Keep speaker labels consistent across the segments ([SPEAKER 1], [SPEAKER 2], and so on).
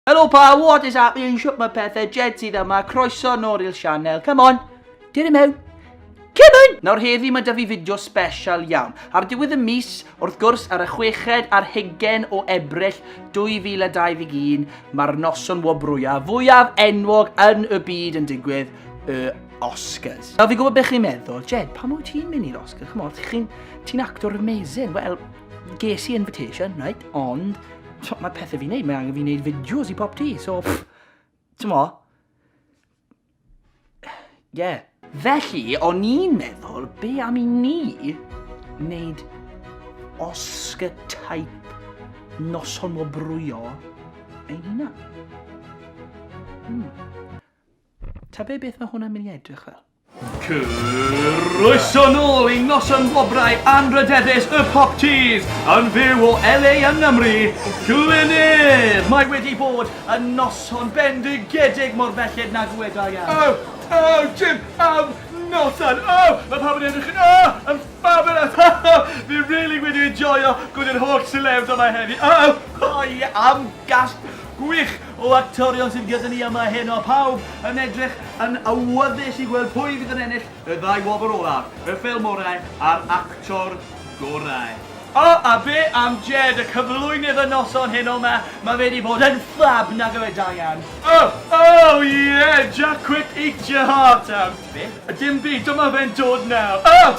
[SPEAKER 1] Helo pa, what is happening, shwt mae pethau, Jed sydd yma, croeso nôl i'r sianel, come on, dyn i mewn. Cymyn! Nawr heddi mae da fi fideo special iawn. Ar diwedd y mis, wrth gwrs, ar y chweched a'r hugen o Ebrill 2021, mae'r noson wobrwyaf fwyaf enwog yn y byd yn digwydd, y Oscars. Nawr fi gwybod beth chi'n meddwl, Jed, pam wyt ti'n mynd i'r Oscars? Chymod, ti'n actor amazing. Wel, ges i invitation, right? Ond, So, mae pethau fi'n neud, mae angen fi'n neud fideos i pop ti, so... Ti'n mo? Yeah. Felly, o'n i'n meddwl, be am i ni wneud Oscar type noson o brwyo ein hunan? Hmm. Ta be beth mae hwnna'n mynd i edrych fel? Croeso
[SPEAKER 2] nôl i Noson Wobrau Anrhydeddus y Pop Tees yn fyw o LA yng Nghymru, Glynir! Mae wedi bod yn noson bendigedig mor belled na dyweda i am. Oh! Oh! Jim! Am noson! Oh! Mae pawb yn edrych yn oh! Yn fabulous! Ha ha! Fi rili wedi enjoio gwneud yr holl celebs yma heddi! Oh! Oh ie! Am gasg gwych! O actorion sydd gyda ni yma heno, pawb yn edrych yn awyddus i gweld pwy fydd yn ennill y ddau wobr olaf, y ffilm orau a'r actor gorau. O, a be am Jed, y cyflwynydd y noson heno 'ma, mae fe 'di bod yn ffab, nag yw e Diane? O! O! Ie! Jack quit eat your heart out! Be? Dim byd, dyma fe'n dod nawr! O!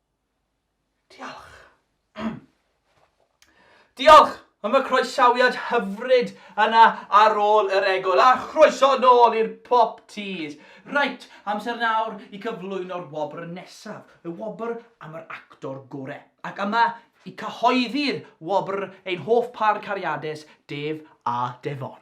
[SPEAKER 2] Diolch. Diolch am y croesawiad hyfryd yna ar ôl yr egol, a chroeso nôl i'r Pop Tees. Reit, amser nawr i cyflwyno'r wobr nesaf, y wobr am yr actor gore. Ac yma i cyhoeddi'r wobr ein hoff pâr cariadus, Dave a Devon.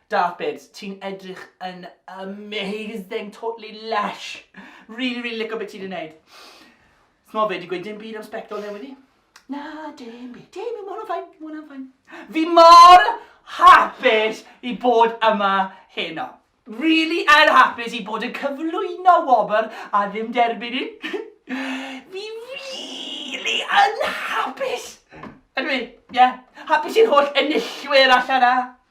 [SPEAKER 2] Dafydd, ti'n edrych yn amazing, totally lush! Rili, rili lico beth ti 'di neud. T'mo' fe 'di gweud dim byd am sbectol newydd i? Na, dim byd, dim byd, ma' hwnna'n fine, ma' hwnna'n fine. Fi mor hapus i bod yma heno. Rili yn hapus i bod yn cyflwyno wobr a ddim derbyn un. Fi rili yn hapus! Ydw i, ie. Hapus i'r holl enillwyr allan 'na.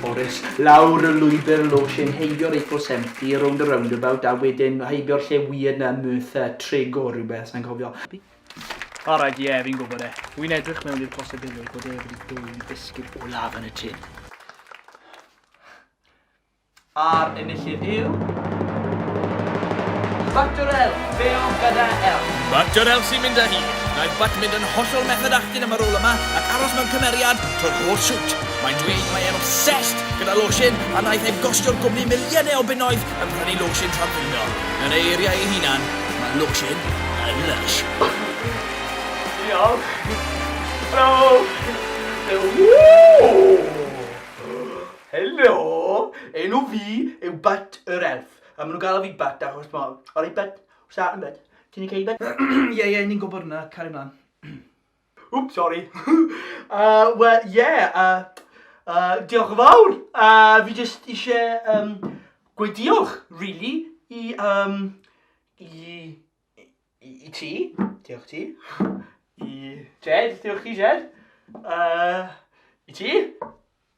[SPEAKER 2] Morris, lawr y lwybr losin, heibio'r Eiffel Seventy, rownd y roundabout, a wedyn heibio'r lle weird 'na, Merthyr Trig o rhywbeth, sa'n cofio. Alright, ie, fi'n gwybod e. Wi'n edrych mewn i'r posibilrwydd bod e wedi dwyn bisgid olaf yn y tun. A'r enillydd. Lle yw? Factor L, be oedd gyda L? Factor L sy'n mynd
[SPEAKER 3] â hi. Mae Butt mynd yn hollol method acting am y rôl yma ac aros mewn cymeriad trwy'r holl shoot. Mae'n dweud mae e'n obsessed gyda lotion a wnaeth e gostio'r gwmni miliynau o bunnoedd yn prynu lotion tra'n blino. Yn ei eiriau ei hunan, mae lotion yn lush. Diolch.
[SPEAKER 2] Bravo! Woo! Helo! Enw fi yw Butt yr Elf. A maen nhw'n galw fi Butt achos ma... Alright Butt, what's that then Butt? Ti'n ok Butt? Ie ie, ni'n gwybod hwnna, cario mlaen. Wps, sori. Yy, wel, ie, yy, yy, diolch yn fawr. Yy, fi jyst ishe, yym, gweud diolch, rili, i, yym, i, i, i ti, diolch ti, i Jed, diolch ti Jed, yy, i ti,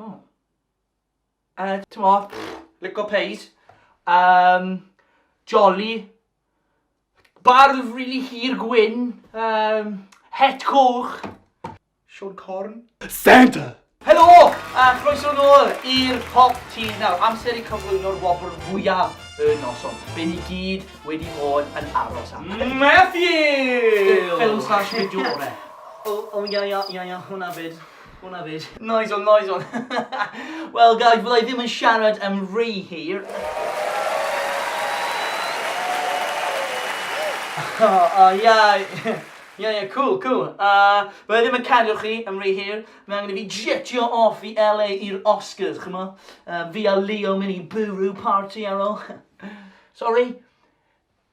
[SPEAKER 1] O. Yy t'mo, lico plays. Yym jolly. Bardd rili hir gwyn. Yym het coch. Siôn Corn. Santa!
[SPEAKER 4] Helo!
[SPEAKER 1] A chroeso nôl i'r Pop Teas. Nawr, amser i cyflwyno'r wobr fwyaf y noson. Be ni gyd wedi bod yn aros am. Matthew!
[SPEAKER 2] Ffilm slash
[SPEAKER 1] fideo gore. O, o, ia, ia, ia, ia, hwnna 'fyd. Hwna fyd. Nice one, nice one. Wel guys, fydda i ddim yn siarad am rhy hir. O, o, ia. Ia, ia, cool, cool. Uh, fydda i ddim yn cadw chi am rhy hir. Mae angen i fi jetio off i LA i'r Oscars, chymo? Uh, fi a Leo mynd i bwrw party ar ôl. Sorry.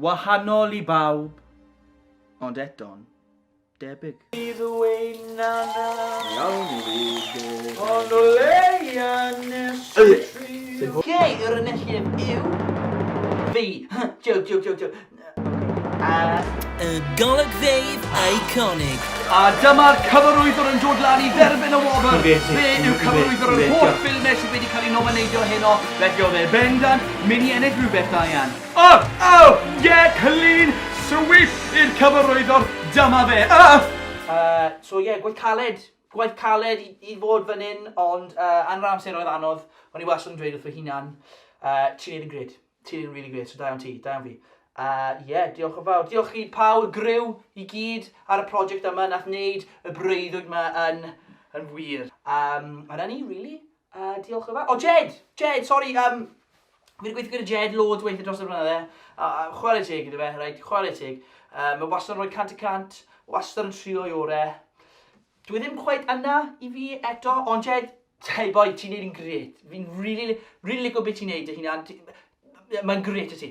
[SPEAKER 1] Wahanol i bawb, ond eto'n debyg. Bydd ein nana iawn i ddod. Ond o leia nes y tri. Gei yr enilliem yw fi. Joke, joke, joke, joke.
[SPEAKER 3] Yy. Y golygfeydd eiconig. A dyma'r
[SPEAKER 2] cyfarwyddwr yn dod lan i dderbyn y wobr. Fe yw cyfarwyddwr yr holl ffilmau sydd wedi cael ei nomineidio heno. Felly oedd e bendant mynd i ennill rhywbeth da iawn. Oh! Oh! Ie! Clean sweep i'r cyfarwyddwr, dyma fe! Uhh! Yy, so ie, gwaith caled.
[SPEAKER 1] Gwaith caled i i fod fan hyn, ond yy yn yr amser oedd anodd, o'n i wastad yn dweud wrth fy hunan yy ti'n neud yn grêt, ti'n neud yn rili grêt, so da iawn ti, da iawn fi. Yy ie, diolch yn fawr. Diolch i pawb, griw i gyd ar y project yma nath neud y breuddwyd 'ma yn yn wir. Yym a 'na ni rili. A diolch yn fawr. O, Jed! Jed, sori, um, fi wedi gweithio gyda Jed loads o weithiau dros y blynydde. Uh, chwarae teg gyda fe, right, chwarae teg. Uh, mae wastad yn rhoi cant y cant, wastad yn trio i ore. Dwi e ddim cweit yna i fi eto, ond Jed, hey boy, ti'n neud yn gret. Fi'n really, really licio beth ti'n neud dy hunan. Mae'n gret y ti.